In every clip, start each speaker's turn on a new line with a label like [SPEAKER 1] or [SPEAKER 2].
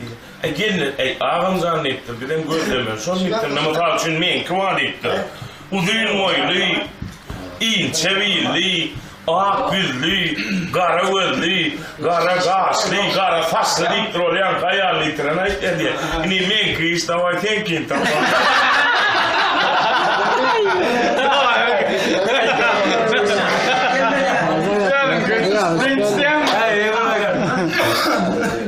[SPEAKER 1] Diýdi. Gelne, Äý, agam jan, diýipdir, bizem gözlemen. Şol diýipdir, mysal üçin, meňki bar diýipdir. Uzyn boýly, inçe billi, ak ýüzli, gara gözli, gara gaşly, gara saçly diýipdir, ol ýaňky aýalyny ýitiren aýtýar diýýär. Indi meňki iş, dawaý, seňkini tapalım.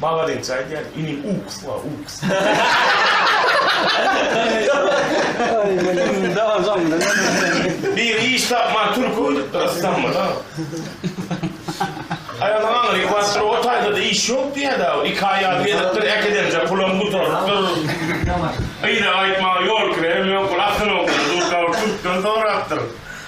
[SPEAKER 1] Malades aýdýar inim uks bar uks. Biri iş tapman türki ödüpdir Ystambula. Aýalyň aňry basyr o taýdada iş ýok diýýädi a iki aýal gezipdir äkidemje pulam gutarypdyr. Gyza gaýtmaga ýol kirem ýok bul asyl oglan duşaw türkden sorapdyr.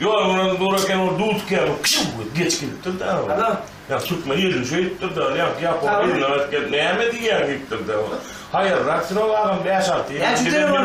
[SPEAKER 1] Ýol biraz zor eken ol duz käbir kşşuw edip geçip gidipdir da ol. Ana. Ýa türkmen ýerini şeýdipdir da ýa ýapon ýerinden gaýdyp gelip näme diýýäň diýipdir da ol. Haýyrrak sürüň agam bäş alty ýyl öňki
[SPEAKER 2] telefon.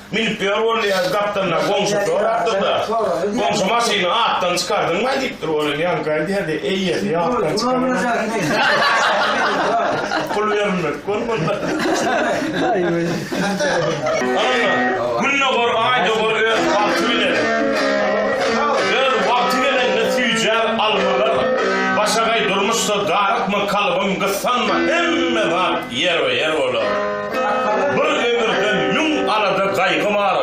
[SPEAKER 1] Münüp ýör bolýa gapdalyndaky goňşy sorapdyr-da, Goňşy maşyny atdan çykardyňmaý diýipdir. Ol hem ýaňky aýdýardy, Eýesi atdan çykaranok. Pul berilmedik
[SPEAKER 2] bolmalydyr.
[SPEAKER 1] Ynha, Gündogor, Aýdogor öz wagty bilen, öz wagty gelende süýjär almalar, başagaý durmuşda darykma, kalbym gyssanma, hemme zat ýerbe-ýer bolar. Bir ömürden müň alada-gaýgy bar,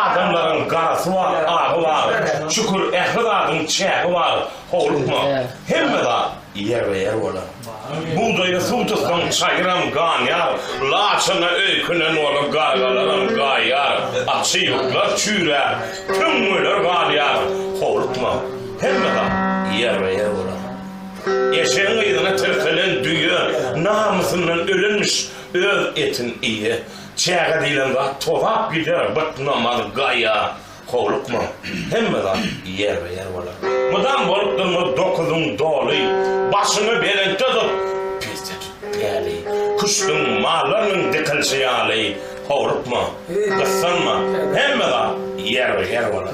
[SPEAKER 1] Adamlaryň garasy bar, agy bar, Şükür, ähli zadyň çägi bar, Howlukma, hemme zat ýerbe-ýer bolar. Bugdaýa suw tutsaň, çaýyram ganýar, Laçyna öýkünen bolup, gargalaram gaýýar, Atçy-ýurtlar çüýräp, tüňňüler galýar, Howlukma, hemme zat ýerbe-ýer bolar. Eşegiň yzyna tirkelen düýe Namysyndan ölenmiş, Öz etin iýe. Çäge diýlen zat tozap gider, bytna mal gaýa. Howlukma. Hemme zat ýerbe-ýer bolar. Mydam bolup durma dokuzyň doly. Başyňy belentde tut, peste tut päli. Küşdüň, mallarynyň dikilşi ýaly. Howlukma. Gyssanma. Hemme zat ýerbe-ýer bolar.